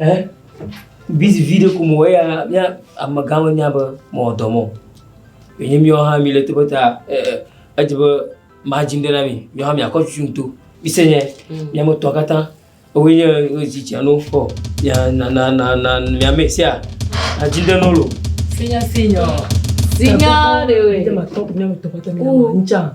Ɛ? Busy viɖe ko mewɔ eya mía amegã menya be mewɔ dɔ mɔ. Wònye míawo hã míle teƒe ta edze be madzim ɖe na mi. Míawo hã míakɔ tutum to. Mise nye míame tɔ̃ katã woe nye zi tsia no kpɔ. Ya na na na na míame sia nadzim ɖe no lo. Sinya sinyɔ. Sinya ɖe we. Míamatɔ míametɔ katã míamatsa.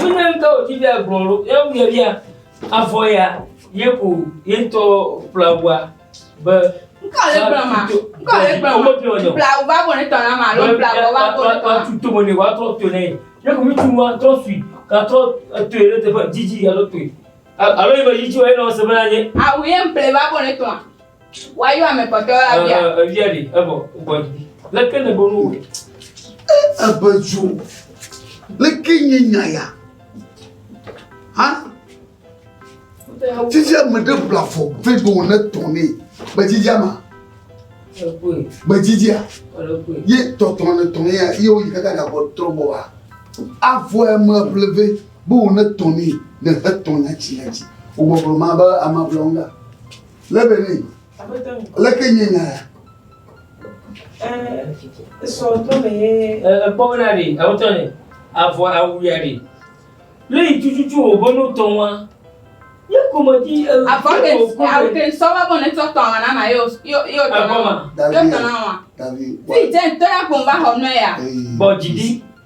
Wonye ŋutɔ wòdzi be agblɔ ɖo, ye wogblɔe bia, avɔ ya ye ko ye ŋutɔ kpla ŋua be. Ŋkɔ le gblɔ ma, ŋkɔ le gblɔ ma, kpla ŋu va bo ne tɔ na ma, alo kpla ŋu va bo ne tɔ na. Atu tome ne wòatrɔ to ne ye, ye ko ŋutsu wa trɔ sui, gatrɔ etoe ɖe teƒe didi alo toe, alo yi be yi dzi wa ye nɔ se be na nye. Awu ye ŋkplɛ va bo ne tɔ na. Woayɔ ame kpɔtɔe abia. Ɛ evia ɖi evɔ gbɔ dzi. Leke ne bo nu wɔ? Ebe dzo. Leke nye nya ya? Ha? Titi ame ɖe bla fɔ vɛ be wòne tɔ nɛ. Gbedzidzia ma? Gbedzidzia? Ye tɔtɔ ne tɔ nɛ ya ye woyi kaka gabɔ trɔ bɔ wa. Avɔ ya me ble vɛ be wòne tɔ nɛ ne hetɔ nyatsi nyatsi. Wòbɔblɔ ma be ama ble wo ŋga. Lebeni, leke nye nya ya? Esɔ tɔme ye. Ekpɔ be na ɖi, awo tɔ ne, avɔ awu ya ɖi. Le yi tututu wo bɔ n'o tɔn wa. Ye kɔmɔ di. Avɔ ke, awu ke sɔ wa bɔ ne tɔ tɔn wa na na yo yo yo tɔn wa. Yo tɔn wa. Davi. Fi jɛn tɔ ya kɔn ba hɔ n'o ya. Bɔ jidi.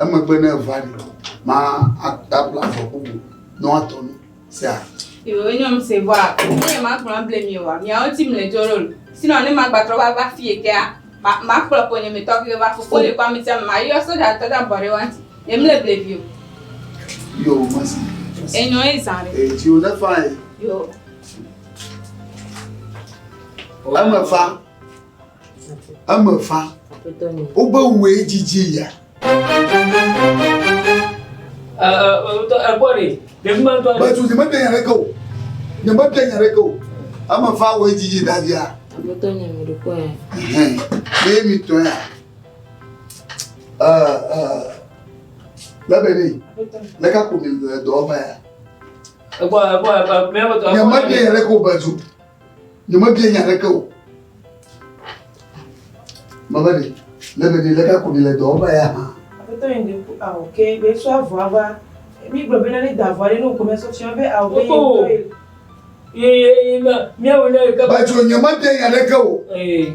Emegbe ne eva ɖi ko ma atabla avɔ bubu nɔ atɔ nu. Sea. Yewo nyɔ mi se vɔa, ne ye ma kplɔ ble mi wa, miawo ti mle jo rol. Sinɔ ne ma gbatrɔ va va fie kea, ma ma kplɔ po nye mi tɔ ke va fofo le kwa mi tia ma yɔ soja tɔ da bɔ re wanti. Ye mle ble vi o. Yo ma si. Enyo e zan re. E ti o ne fa e. Yo. Ame fa. Eme fa. Wobe wue dzidzi ya. Bɛtu nyeme bia nya ɖeke o. Nyeme bia nya ɖeke o. Eme fa wue dzidzi davia. Aƒetɔ nye mi ɖokɔ ya. Ye mi tɔ ya. Lɛbɛ ni. Lɛka ko mi dɔ ɔba ya. Ɛgbɔ ɛgbɔ ɛgbɔ. Nyeme bia nya ɖeke o bɛtu. Nyemebia nya aɖeke o. Mama ɖe, le be ɖe le ka kuni le dɔwɔƒe ya hã. Aƒetɔ yi ɖe ku awɔ ke be sɔ avɔa va. Mi gblɔ be ne da avɔa ɖe ne wokɔ mɛsɔ tia be awɔ be yi ŋutɔ ye. Ye ye ye ma miawo ne ke. Ba tso nyemebia nya aɖeke o. Ee.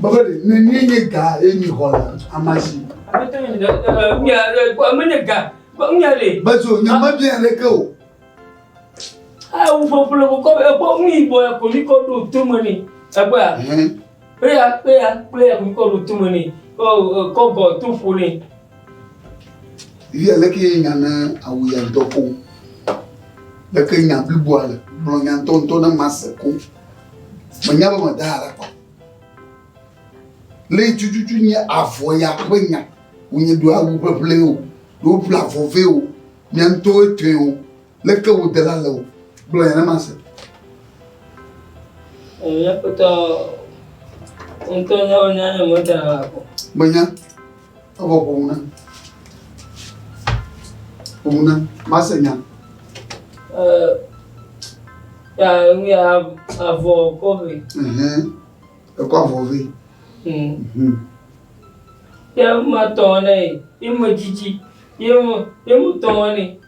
Babali, ne ni nye ga ye ni xɔ la, amasi. Abete ni da da mi ale ko ame ne ga, ba mi ale. Bazo nya ma bi ale ke o. Ah, u fo fo ko ko e ko mi bo e ko mi ko do to mo ni. Agba. Pe ya pe ya pe ya mi ko do to mo ni. Ko ko go to fo ni. Iye ale ke nya na awu ya do ko. Leke nya blibo ale. Blo nya nto nto na mase ko. Menya be meda ha ɖe akpa. Le tututu nye avɔ ya ƒe nya. Wonye ɖo awu ʋeʋle o, ɖo ƒle avɔ vɛ o, mia ŋutɔwo tɔe o. Leke wo dela le o. Gblɔ ya ne ma se. Mia ŋutɔ, ŋutɔ nyawo nya nye medzra la ko. Menya. Evɔ ƒo ŋu na. Ƒo ŋu na. Mase nya. Eh, ya nu ya avɔ kɔ vɛ. Ɛhɛn. Ekɔ avɔ vɛ. Hmm. Hmm. Ya ma tɔ ne ye me dzidzi. Ye mo ye mo tɔ ne.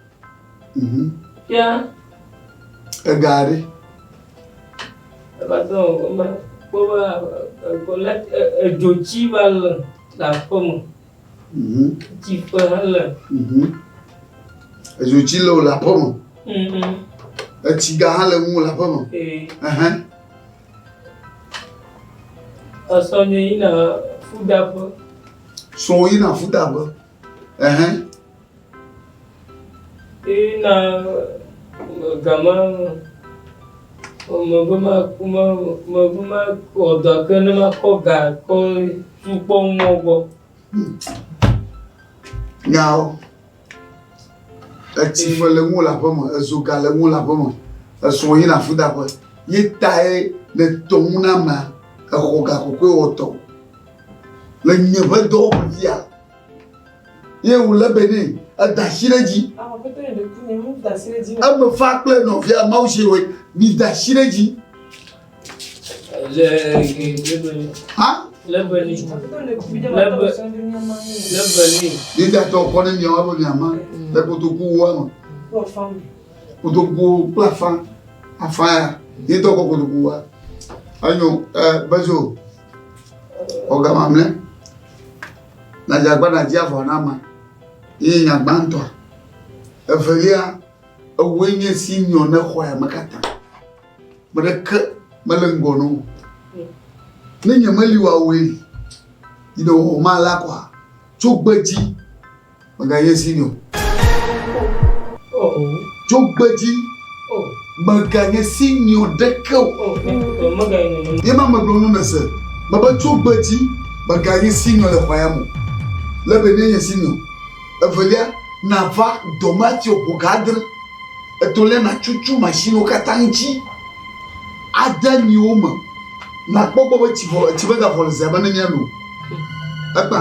Fia. Ega ɖe. Ebazɔ eme kpɔ be ekole edzo tsi va le le aƒeme. Tsi ƒe hã le. Edzo tsi le le aƒeme. Etsi ga hã le ŋu le aƒeme. Esɔ nye yina fudaƒe. Sɔ yina fudaƒe. Ɛhɛn. Eye na gama mebe maku ma mebe makɔ dɔ ke ne makɔ ga kɔ sukpɔ mɔ gbɔ. Nyawo. Etsi fe le ŋu le aƒe me, ezo ga le ŋu le aƒe me, esɔ yi na fudaƒe. Ye tae le tɔŋu na ma exɔ ga kɔkɔe wɔtɔ. le nye ƒe dɔwɔƒe fia. Ye wòlé be nɛ, eda asi ɖe edzi. Eme fa kple nɔvia Mawu si wɔe, mida asi ɖe edzi. Yudatɔ kɔ ne miawo alo miama le kotokuwoa me. Kotokuwo kple afã, afã ya, yetɔ kɔ kotokuwoa. Enyo, eh, bezo. Ọ̀gá mamlẹ́, nàdze agbára dzi avɔ na ma. Yìí nya gbãtɔ. Evelia, ewòe nye si nyɔ ne xɔ ya me katã. Me ɖeke mele ŋgɔ na wò. Ne nyemeli wòawɔe, yi ne wò ma la kɔa, tso gbedzi. Mègayi esi mi o. Dzogbedzi. Mèganye si mi o ɖeke o. Ye ma megblɔ nu me se. Mebe dzogbedzi. Mèganye si mi o le xɔa ya me. Le be ne nye si mi o. Evelia, nàva dɔmatio ƒo ga adre. Etɔ̃lia, nàtsutsɔ mashiniwo katã ŋuti ade nyiwo me. Nàkpɔ gbɔ be tsi vɔ, tsi megavɔ le zea me ne míano. Egbã.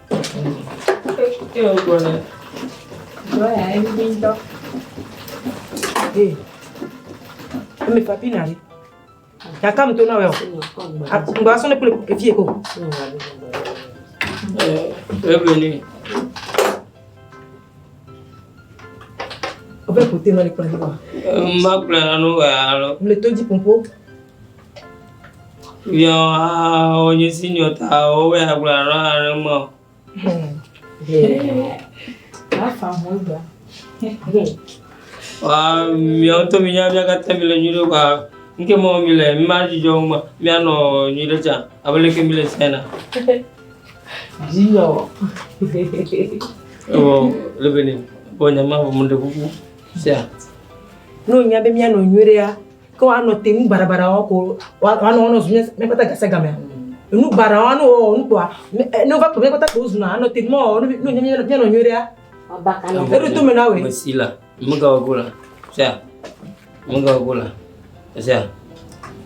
Emi papi na ɖi. Yaka mi to na wɛ o. Ŋgba sɔn ne kple evi ye ko. Ebe ni. Obe kote na le kpla di ba. Ma kpla na no wa alo. Le to di pompo. Nyɔhawo nye si nyɔtawo wɔ ya gblɔ alo aɖe mɔ. Afa ho gba. Wa miawo to mi nya mia katã mi le nyui ɖe wa nke mɔ mi le mi ma dzidzɔ ma mianɔ nyui ɖe tsa abe leke mi le sia na. Dzidzɔ. Ewɔ lebele bɔ nyama bɔ mo ɖe kuku sia. No nya be mianɔ nyui ɖe ya. Ke woanɔ te nu baɖabaɖa wɔm ko woanɔ wɔnɔ zu míaƒe ta gase gamea? Nu baɖa wɔm anɔ wɔwɔ nu kpoa ne wova kplɔ míaƒe ta kpo wozuna anɔ te mɔ wɔwɔ nu ne míanɔ nyuie ɖea? Eɖo to me na wòe. Mesi la, megawa go la. Sia, megawa go la. Sia,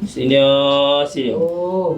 senior, senior. Oh.